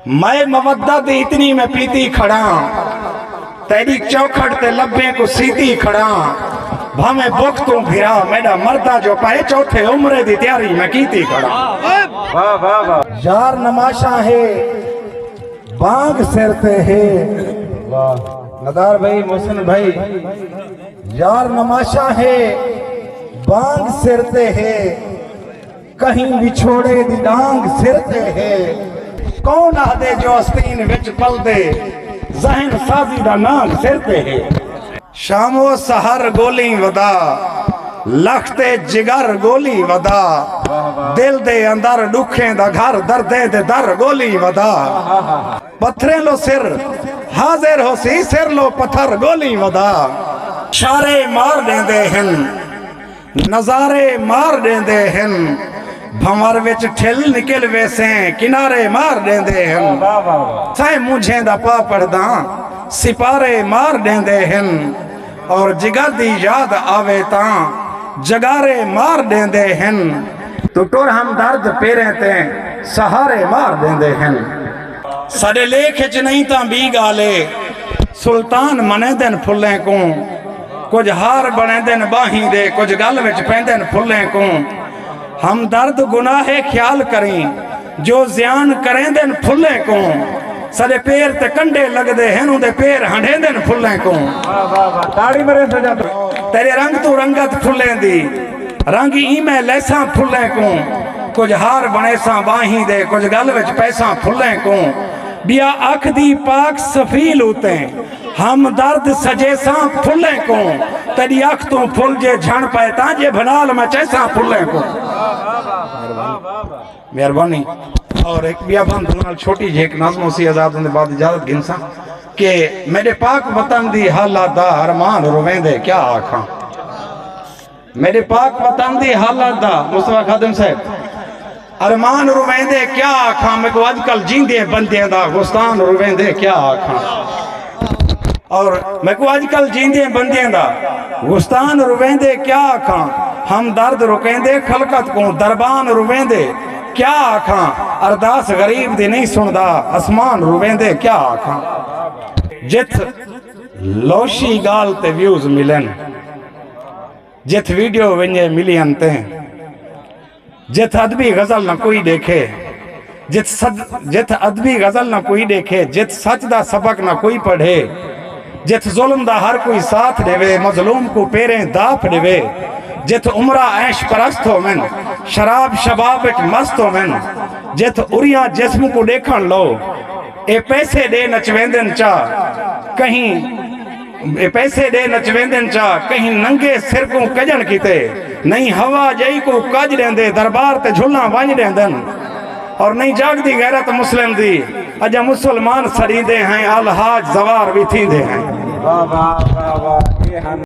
مئے مودت اتنی میں پیتی کھڑاں تیڈی چوکھٹ تے لبیں کوں سیتی کھڑاں بھاویں بکھ توں بھرا میڈا مردہ جو پئے چوتھے عمرے دی تیاری میں کیتی کھڑاں یار نماشاں ہے بانگ سر تے ہے ندار بھائی محسن بھائی یار نماشاں ہے بانگ سر تے ہے کہیں وچھوڑے دی ڈانگ سر تے ہے۔ کون آہدے جو آستین وچ پلدے۔ ذہن سازی دا نانگ سر تے ہے۔ شام و سحر گولیں ودا۔ لخ تے جگر گولیں ودا۔ دل دے اندر ڈکھیں دا گھر۔ دردیں دے در گولیں ودا۔ پتھریں لو سر حاضر ہوسی۔ سر لو پتھر گولیں ودا۔ شارے مار ڈیندے ہن۔ نظارے مار ݙیندے ہن بھنور وچ ٹھل نکل ویسیں کنارے مار ݙیندے ہن سائیں مونجھیں دا پا پڑھداں سپارے مار ݙیندے ہن اور جگر دی یاد آوے تاں جگارے مار ݙیندے ہن توں ٹر ہمدرد پیریں تے سہارے مار ݙیندے ہن ساݙے لیکھ وچ نئیں تاں ٻی ڳالھ اے سلطان منیندن پھلیں کوں کجھ ہار بنیندن باہیں دے کجھ گل وچ پیندن پھلیں کوں ہمدرد گناہ خیال کریں جو زیان کریندن پھلیں کوں سڈے پیر تے کنڈے لگ دے ہیں دے پیر ہنڈیندن پھلیں کوں تیرے رنگ تو رنگت پھلیں دی رنگ ایمیں لیساں پھلیں کوں کچھ ہار بنے ساں باہیں دے کچھ گل وچ پیساں پھلیں کوں بیا اکھ دی پاک سفیل ہوتے ہیں ہمدرد سجیساں پھلیں کوں تیڈی اکھ توں پھل جے جھن پئے تاں جے بھنال میں چیساں پھلیں کوں مہربانی اور ایک بیا بند دونال چھوٹی جھیک نظم اسی ازاد ہوندے بعد اجازت گھنساں کہ میڈے پاک وطن دی حالات دا ارمان روین دے کیا آکھاں میݙے پاک وطن دی حالت دا مصطفی خادم صاحب ارمان رویندے کیا آکھاں میکو اج کل جیندے بندیاں دا غستان رویندے کیا آکھاں اور میکو اج کل جیندے بندیاں دا غستان رویندے کیا آکھاں ہم درد رکیندے خلقت کو دربان رویندے کیا آکھاں ارداس غریب دی نہیں سندا اسمان رویندے کیا آکھاں جتھ لوشی گال تے ویوز ملن جتھ ویڈیو ونجے ملی انتیں جتھ ادبی غزل نہ کوئی دیکھے جتھ صد جتھ ادبی غزل نہ کوئی دیکھے جتھ سچ دا سبق نہ کوئی پڑھے جتھ ظلم دا ہر کوئی ساتھ دیوے مظلوم کو پیریں داپ دیوے جتھ عمرہ عیش پرست ہو من شراب شباب اچ مست ہو من جتھ اریاں جسم کو دیکھن لو اے پیسے ݙے نچ ویندن چا کہیں اے پیسے ݙے نچ ویندن چا کہیں ننگے سر کوں کڄݨ کیتے نئیں ہوا ڄئی کوں کڄ ݙیندے دربار تے جھلاں ونڄ ݙیندن اور نئیں جاڳدی غیرت مسلم دی اڄاں مسلمان سݙیندے ہیں الحاج زوار وی تھیندے ہیں۔